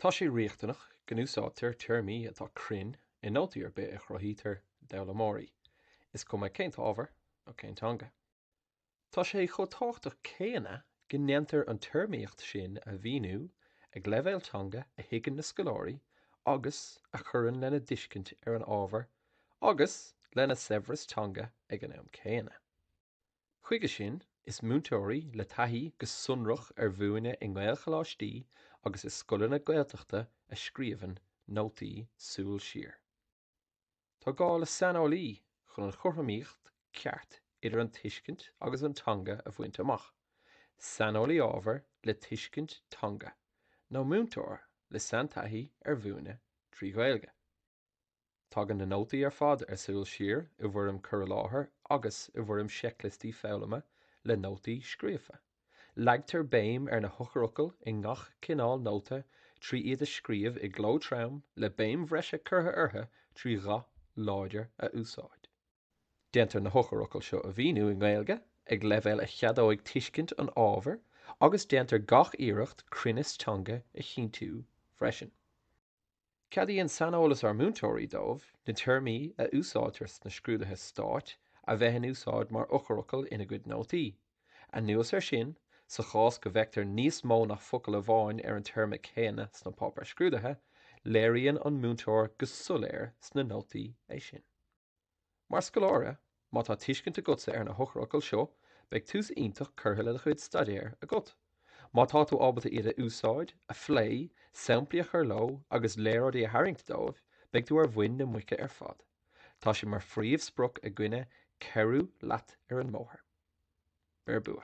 Tá sé riachtanach go n-úsáidtear téarmaí atá cruinn i nótaí ar bith a chruthaítear d'fhoghlaimeoirí, is cuma cén ábhar nó cén teanga. Tá sé chomh tábhachtach céanna go ndéantar an téarmaíocht sin a mhíniú ag leibhéal teanga a thuigeann na scoláirí agus a chuireann lena dtuiscint ar an ábhar agus lena saibhreas teanga ag an am céanna. Chuige sin, is múinteoirí le taithí go sonrach ar mhúineadh i nGaelcholáistí agus i scoileanna Gaeltachta a scríobhann nótaí Súil Siar. Tá gá le saineolaí chun an chothromaíocht ceart idir an tuiscint agus an teanga a bhaint amach, saineolaí ábhair le tuiscint teanga nó múinteoir le saintaithí ar mhúineadh trí Ghaeilge. Tagann na nótaí ar fad ar Súil Siar i bhfoirm cur i láthair agus i bhfoirm seicliostaí foghlama le nótaí scríofa. Leagtar béim ar na heochairfhocail i ngach cineál nóta trí iad a scríobh i gcló trom le béim bhreise curtha orthu trí dhath láidir a úsáid. Déantar na heochairfhocail seo a mhíniú i nGaeilge ag leibhéal a cheadóidh tuiscint an ábhair agus déantar gach iarracht cruinneas teanga a chinntiú freisin. Ceadaíonn saineolas ár múinteoirí dóibh na téarmaí a úsáidtear sna scrúduithe stáit a bheith in úsáid mar eochairfhocail ina gcuid nótaí. Anuas air sin, sa chás go bhfeictear níos mó ná focal amháin ar an téarma céanna sna páipéir scrúdaithe, léiríonn an múinteoir go soiléir sna nótaí é sin. Mar scoláire, má tá tuiscint agatsa ar na heochairfhocail seo, beidh tús iontach curtha le do chuid staidéir agat. Má tá tú ábalta iad a úsáid, a phlé, samplaí a chur leo agus léaráidí a tharraingt dóibh, beidh tú ar mhuin na muice ar fad. Tá sé mar phríomhsprioc againne cabhrú leat ar an mbóthar. Beir bua.